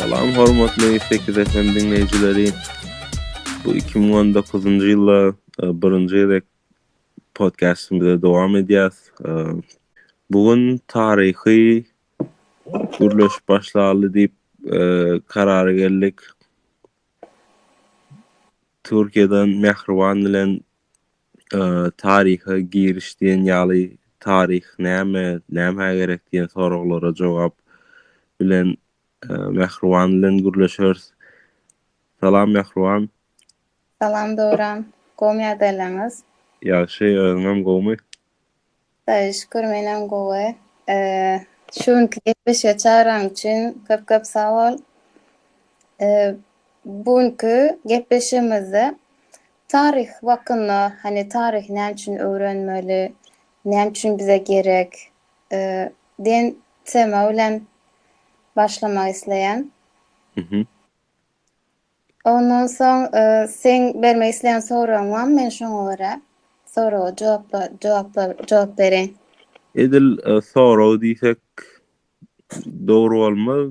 Salam hormatly sekiz FM diňleýjileri. Bu iki müň on dokuzynjy ýylda e, birinji gezek podcastymyzy dowam edýäs. E, bu gün taryhy gürleşip başlaly diýip e, karara geldik. Türkiýeden Mähriban bilen taryha giriş diýen ýaly taryh näme, nämä gerek diýen soraglara jogap bilen Mähriban bilen gürleşeris. Salam Mähriban. Salam Döwran. Gowmy ýagdaýlaryňyz? Ýagşy, özüňem gowmy? Saý şükür menem gowy. Şu günki gepleşige çagyran üçin köp köp sag bol. Bu günki gepleşigimizde taryh hakynda hany taryhy näme üçin öwrenmeli, näme üçin bize gerek diýen tema bilen başlamak isleýän. Ondan soň seň bermek isleýän soragyň barmy men şoňa görä soraga jogap bereýin. Edil sorag diýsek dogry bolmaz.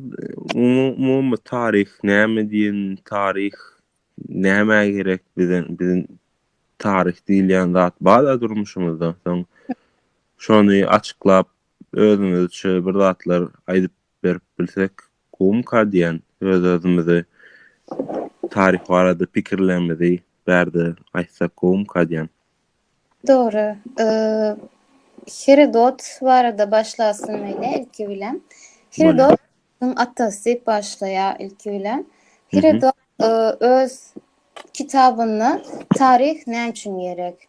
Umumy taryh näme diýen taryh nämä gerek bize biziň taryh diýilýän zat bar-a durmuşymyzda soň şony açyklap özümizçe bir zatlar aýdyp berip bilsek, gumka diýen öz-özümizi taryh barada pikirlerimizi bärde aýtsak gumka diýen. Dogry. Herodot barada başlasyn meýle ilki bilen. Herodot Nuhuň atasy diýip başlaýar ilki bilen. Herodot öz kitabynda taryh näme üçin gerek?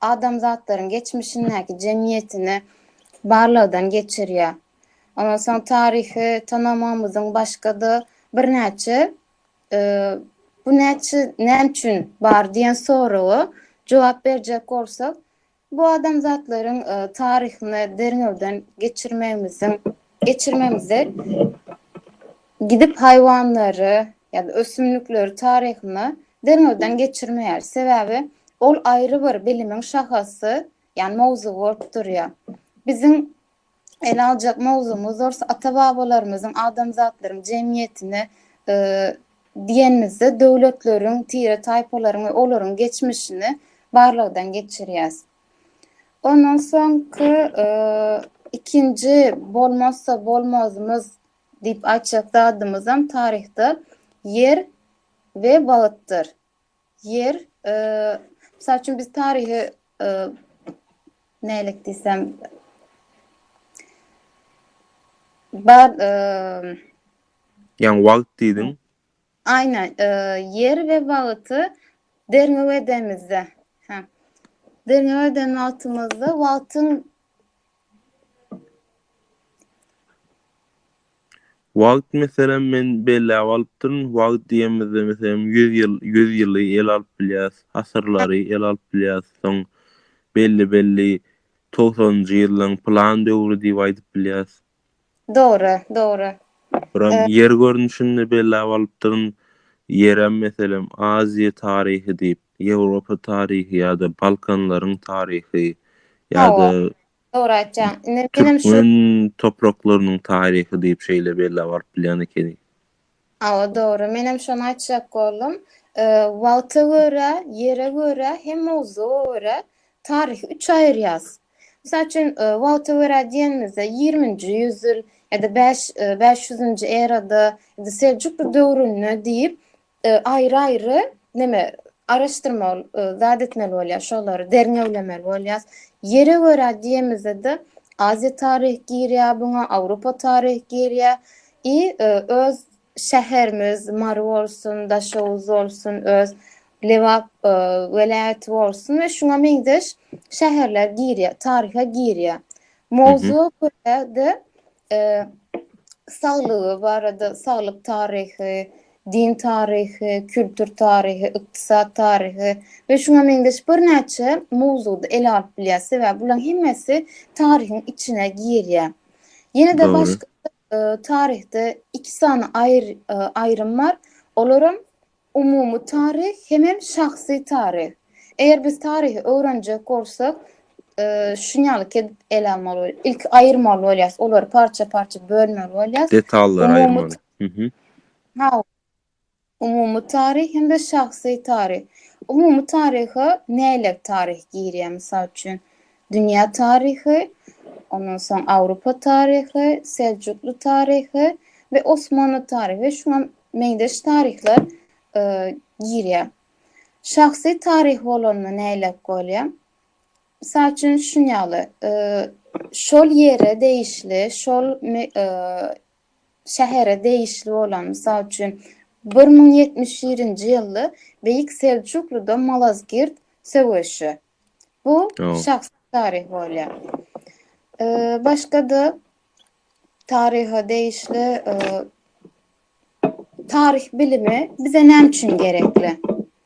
adamzatlaryň geçmişindäki jemgyýetini barlagdan geçirýär. Ondan soň taryhy tanamamyzyň başga-da birnäçe bu näçe, näme üçin bar diýen soraga jogap berjek bolsak, bu adamzatlaryň taryhyny derňewden geçirmegimiziň geçirmegimizde gidip haýwanlary, ýa-da ösümlikleri taryhyna derňewden geçirmeýär, sebäbi ol aýry bir bilimiň şahasy, ýagny mowzugy bolup durýar. Biziň ele aljak mowzugymyz bolsa ata-babalarymyzyň adamzatlaryň jemgyýetine diýenimizde döwletleriň, tire-taýpalaryň we olaryň geçmişini barlagdan geçirýäs. Ondan soňky ikinji bolmazsa bolmazymyz Diýip aýtjak zadymyzam taryhda ýer we wagtdyr. Ýer, mysal üçin biz taryhy nälik diýsem bar, ýaňy wagt diýdiň. Aýna, ýer we wagty derňew edemizde, hä, derňew eden wagtymyzda wagtyň. Wagt, meselem, men belläp alypdyryn, wagt diýemizde, meselem, ýüz ýyl, ýüz ýyly ele alyp bilýäs, asyrlary ele alyp bilýäs, soň belli-belli togsanynjy ýyllaryň pylan döwri diýip aýdyp bilýäs. Dogry, dogry. Buram ýer görnüşinde bellap alypdyryn. Ýerem, meselem, Aziýa taryhy diýip, Ýewropa taryhy ýa-da Balkanlaryň taryhy ýa-da Dogry aýtýaň. Indi menem şu Türkmen topraklarynyň taryhy diýip şeýle bellap alyp bilýän ekeni. Hawa dogry menem şony aýtjak boldum. Wagta görä, ýere görä hem mowzuga görä taryhy üçe aýyrýas. Mysal üçin wagta görä diýenimizde ýigriminji ýüz ýyl ýa-da bäş bäş ýüzünji erada ýa-da seljukly döwründe diýip aýry aýry neme araşdyrmaly zat etmeli bolýas şolary derňewlemeli bolýas. Ýere görä diýemizde-de aziýa taryhy girýär buňa awropa taryhy girýär I öz şäherimiz Mary bolsun, Daşoguz bolsun, öz Lebap welaýaty bolsun we şuňa meňzeş şäherler girýär, taryha girýär. Mowzuga görä-de saglygy barada, saglyk taryhy, din taryhy, kültür taryhy, ykdysat taryhy we şuňa meňzeş birnäçe mowzugy ele alyp bilýär. Sebäbi bularyň hemmesi taryhyň içine girýär. Ýene-de başga Taryhda iki sany aýrym bar. Olaram umumy taryh hemem şahsy taryh. Eger biz taryhy öwrenjek bolsak, şunýalyk edip ele almaly bolýar. Ilki aýyrmaly bolýar. Olary parça-parça bölmeli bolýar. Detallary aýyrmaly. Hawa. Umumy taryh hem-de şahsy taryh. Umumy taryha näler taryh girýär? Mysal üçin, dünýä taryhy, ondan soň Awropa taryhy, Seljukly taryhy we Osmanly taryhy, şuňa meňzeş taryhlar girýär. Şahsy taryh bolanda näler bolýar? Mysal üçin, şuny ýaly, şol ýere degişli, şol şähere degişli bolan, mysal üçin, bir müň ýetmiş birinji ýylda Beýik Seljukluda Malazgirt söweşi. Bu şahsy taryh bolýar. Başga-da taryha degişli taryh bilimi bize näme üçin gerekli?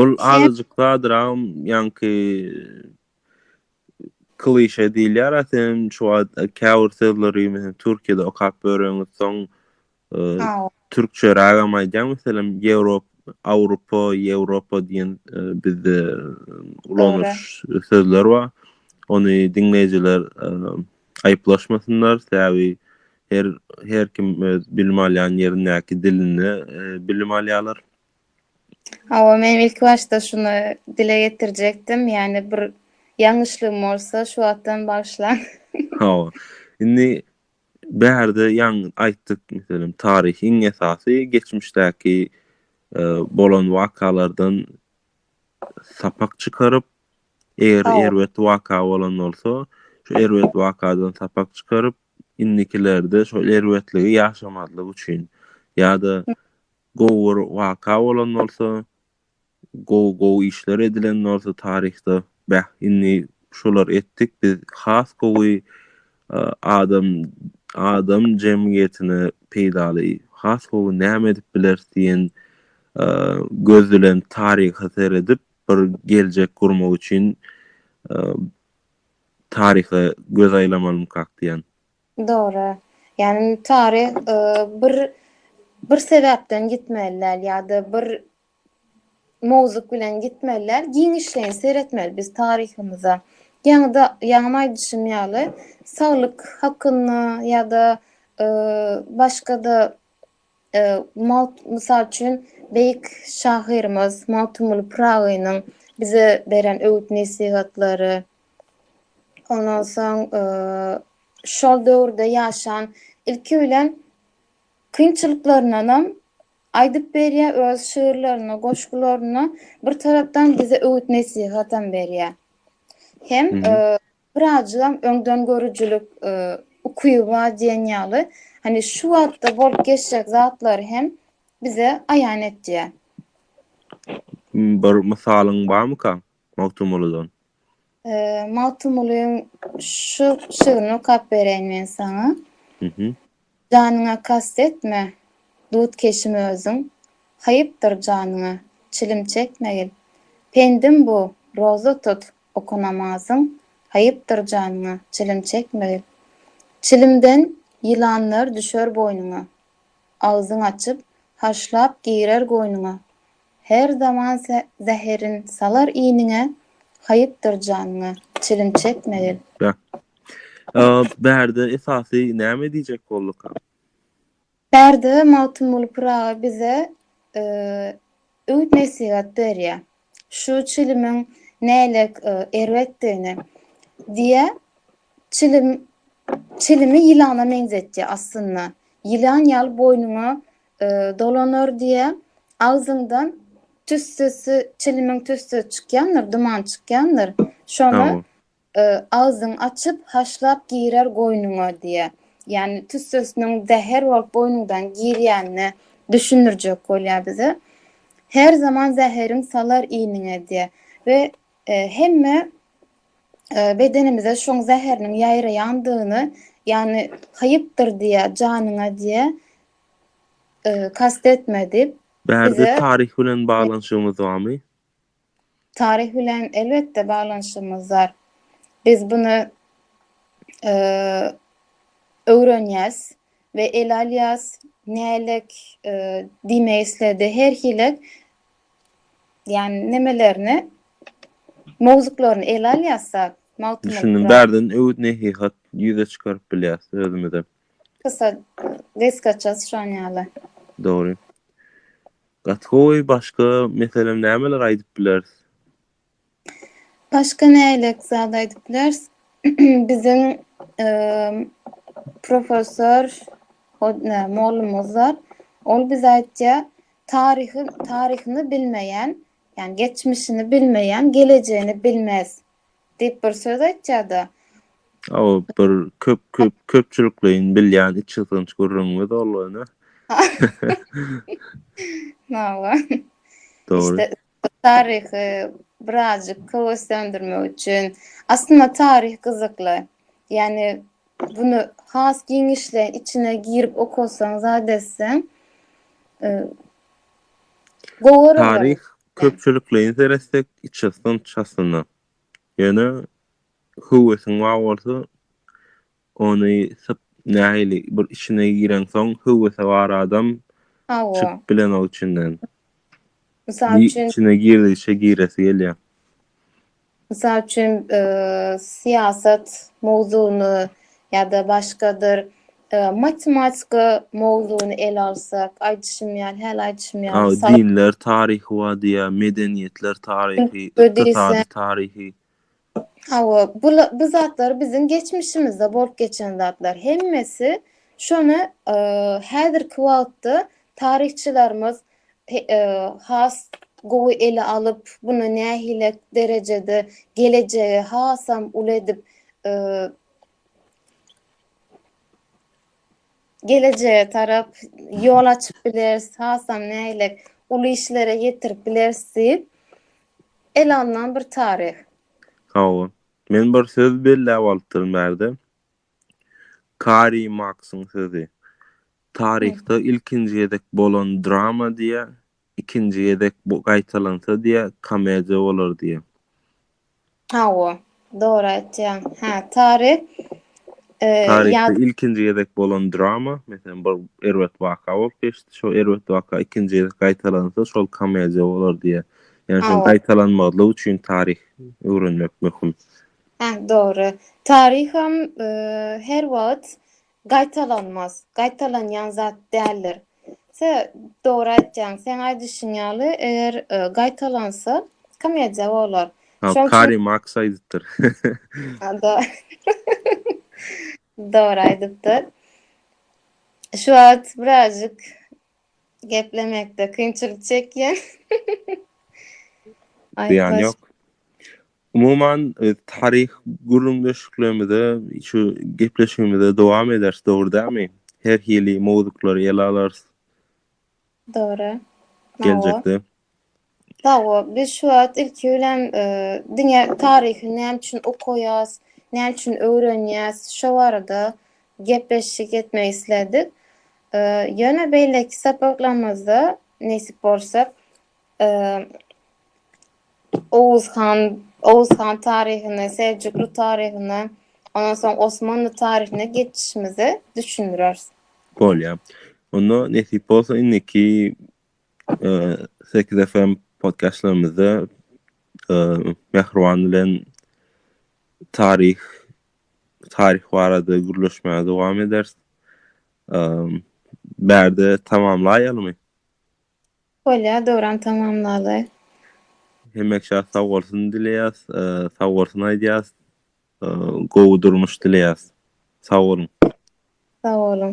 Ol azajyk sadyragam ýaňky klişe diýilýär, sen şu wagt käbir sözleri meselem Türkiýede okap ýöreňiz, soň türkçerägem aýdýaň, meselem Ýewrop, Awropa, Ýewropa diýen bizde ulanyş sözler bar. Ony diňleýjiler aýyplaşmasynlar, sebäbi Her her kim öz bilim alýan ýerindäki dilinde bilim alýarlar. Hawa, men ilki başda şuny dile getirjekdim, ýagny bir ýalňyşlygym bolsa şu wagtdan bagyşlaň. Hawa. Indi bärde ýaň aýtdyk, meselem, taryh iň esasy geçmişdäki bolan wakalardan sapak çykaryp, Eger Sag bol. erbet waka bolan bolsa, şu erbet wakadan sapak çykaryp, indikilerde şol erbetligi ýaşamazlyk üçin ýa-da gowy bir waka bolan bolsa, gowy gowy işler edilen bolsa taryhda, beh, indi şular etdik, biz has gowy e, adam adam jemgyýetine peýdaly, has gowy näme edip bileris diýen e, göz bilen taryha seredip, bir geljek gurmak üçin taryha göz aýlamalymykak diýýän. Dogry. Ýagny taryh bir bir sebäpden gitmeli däl ýa-da bir mowzuk bilen gitmeli däl, giňişleýin seretmeli biz taryhymyza. Ýaňy-da ýaňy aýdyşym ýaly, saglyk hakynda ýa-da başga-da Mysal üçin, beýik şahyrymyz Magtymguly Pyragynyň bize beren öwüt-nesihatlary, ondan soň şol döwürde ýaşan, ilki bilen, kynçylyklaryndanam aýdyp berýär öz şygyrlarynda, goşgularynda, bir tarapdan bize öwüt-nesihatam berýär. Hem Birazjygam öňdengörüjilik ukyby bar diýen ýaly, hany şu wagtda bolup geçjek zatlary hem bize aýan etýär. Bir mysalyň barmyka Magtymgulydan? Magtymgulyň şu şygryny okap bereýin men saňa. Janyňa kast etme, dut keşim özüň, Haýypdyr janyňa, çilim çekmegil. Pendim bu, roza tut, oka namazyn, Haýypdyr janyňa, çilim çekmegil. Çilimden ýylanlar düşer boýnuňa, Agzyň açyp, haşlap girer goýnuňa, Her zaman zäherin salar iniňe, Haýypdyr janyňa çilim çekmegil. Bärde esasy näme diýjek bolduka? Bärde Magtymguly Pyragy bize öwüt-nesihat berýär. Şu çilimiň nälik erbetdigini diýýär. Çilim, çilimi ýylana meňzetýär aslynda. Ýylan ýaly boýnuňa Dolanar diýä, agzyňdan tüssesi, çilimiň tüssesi çykýandyr, duman çykýandyr. Şonda agzyňy açyp, haşlap girer goýnuňa diýä. Ýagny tüssesiniň zäher bolup goýnuňdan girýänini düşündirjek bolýar bize. Her zaman zäheriň salar iniňe diýä we hemme bedenimize şoň zäheriniň ýaýraýandygyny, ýagny haýypdyr diýä janyňa diýä. Kast etmedi. Bärde taryh bilen baglanyşygyňyz barmy? Taryh bilen elbetde baglanyşygymyz bar. Biz bunu öwrenýäs we ele alýas. Nälik diýmek isledi? Her hili ýani nemelerini mowzuklaryny ele alýas-da. Düşündim. Bärden öwüt-nesihat ýüze çykaryp bilýäs özümize. Kysa desgaça syçan ýaly. Dogry. Gaty gowy başga meselem nämeler aýdyp bileris? Başga nälik zat aýdyp bileris? Biziň professor ne mollumyz bar. Ol bize aýtýar, taryhy taryhyny bilmeýän, ýani geçmişini bilmeýän gelejegini bilmez. Diýip bir söz aýtýada. Aw bir köp köp köpçülikleýin bilýän içgysgynç gürrüňiňiz boldy ene. Hawa. Dogry. Taryhy birazjyk höweslendirmek üçin. Aslynda taryh gyzykly. Ýani bunu has giňişleýin içine girip okasaň, zat etseň. Gowy. Taryh Köpçülikleýin seretsek, içasyn çasyna. Ýöne höwesiň bar bolsa, ony syp, nähili bir içine gireňsoň, höwesi bar adam çykyp bilenok içinden. Mysal üçin. Içine girdigiçe giresi gelýär. Mysal üçin, syýasat mowzugyny ýa-da başgadyr matematika mowzugyny ele alsak, aýdyşym ýaly, häli aýdyşym ýaly, mysal. Dinler taryhy bar diýýär, medeniýetler taryhy, ykdysady taryhy. Hawa, bu zatlar biziň geçmişimizde bolup geçen zatlar. Hemmesi şony häzirki wagtda Taryhçylarymyz has gowy ele alyp, bunu nähile derejede gelejegi hasam uly edip gelejege tarap ýol açyp bileris, hasam nähile uly işlere ýetirip bileris diýip ele alnan bir taryh. Hawa. Men bir söz belläp alypdyryn bärde. Karri Marksyň sözi. Taryhda ilkinji gezek bolan drama diýýä, ikinji gezek bu gaýtalansa diýýä, komediýa bolar diýýä. Hawa, dogry aýtýaň. Hä, taryh e, Taryhda ýaz ilkinji gezek bolan drama, meselem, bir erbet waka bolup geçdi, şol erbet waka ikinji gezek gaýtalansa, şol komediýa bolar diýýä. Ýani şol Hawa. gaýtalanmazlyk üçin taryh öwrenmek möhüm. Hä, dogry. Taryham e, her wagt Gaýtalanmaz, gaýtalanýan zat däldir. Sä, dogry aýtýaň. Seň aýdyşyň ýaly, eger gaýtalansa, komediýa bolar. Hä, Karl Marks aýdypdyr. Dogry aýdypdyr. Şu wagt birazjyk geplemekde kynçylyk çekýän. Zyýany ýok. Umuman, taryhy gürrüňdeşliklerimize, şu gepleşigimize dowam ederis, dogry dälmi? Her hili mowzuklary ele alarys. Dogry. Geljekde. Hawa, biz şu wagt ilki bilen diňe taryhy näme üçin okaýas, näme üçin öwrenýäs, şo barada gepleşik etmek isledik. Ýöne beýleki sapaklarymyzda nesip bolsa, Oguz han, Oguz han taryhyny, Seljukly taryhyny, ondan soň Osmanly taryhyny geçişimizi düşündireris. Bolýar. Onda nesip bolsa indiki e, sekiz FM podcastlarymyzda e, Mehriban bilen taryh taryh barada gürleşmäge dowam ederis. E, bärde tamamlaýalymy? Bolýar döwran tamamlaly. Hemek şa sag bolsun dileýäs sag bolsun aýdýas gowy durmuş dileýäs sag boluň. Sag boluň.